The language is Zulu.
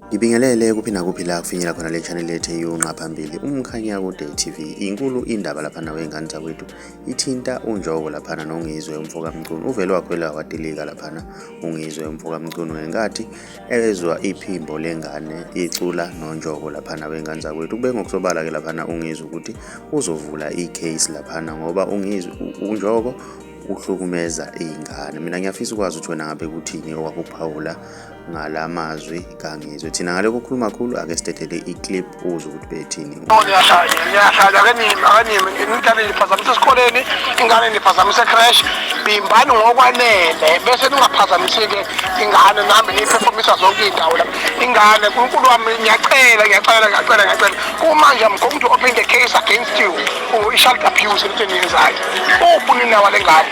Ngibingelele kuphi nakuphi la kufinyela khona le channel yethu eyunqa phambili umkhanya kude TV inkulu indaba lapha nawe ingane zakwethu ithinta unjoko lapha nongizwe umfoka Mcunu uvele wakhwela watilika lapha ungizwe umfoka Mcunu ngenkathi ezwa iphimbo lengane icula nonjoko lapha nawe ingane zakwethu kube ngokusobala ke lapha ungizwe ukuthi uzovula icase lapha ngoba ungizwe unjoko uhlukumeza izingane mina ngiyafisa ukwazi ukuthi wena ngabe kuthini owakuphawula ngala mazwi kangizwe thina ngale kukhuluma khulu ake sidedele iclip uze ukuthi bethini ngiyahlanya ke nimi akanimi ingane niphazamisa esikoleni ingane niphazamisa ecrash bimbani ngokwanele bese ningaphazamisike ingane nambe niyiphefomisa zonke iy'ndawo la ingane unkulu wami ngiyacela ngiyacela ngiyacela ngiyacela kumanje i'm going to open the case against you for i-child abuse lento eniyenzayo ubuninawa le ngane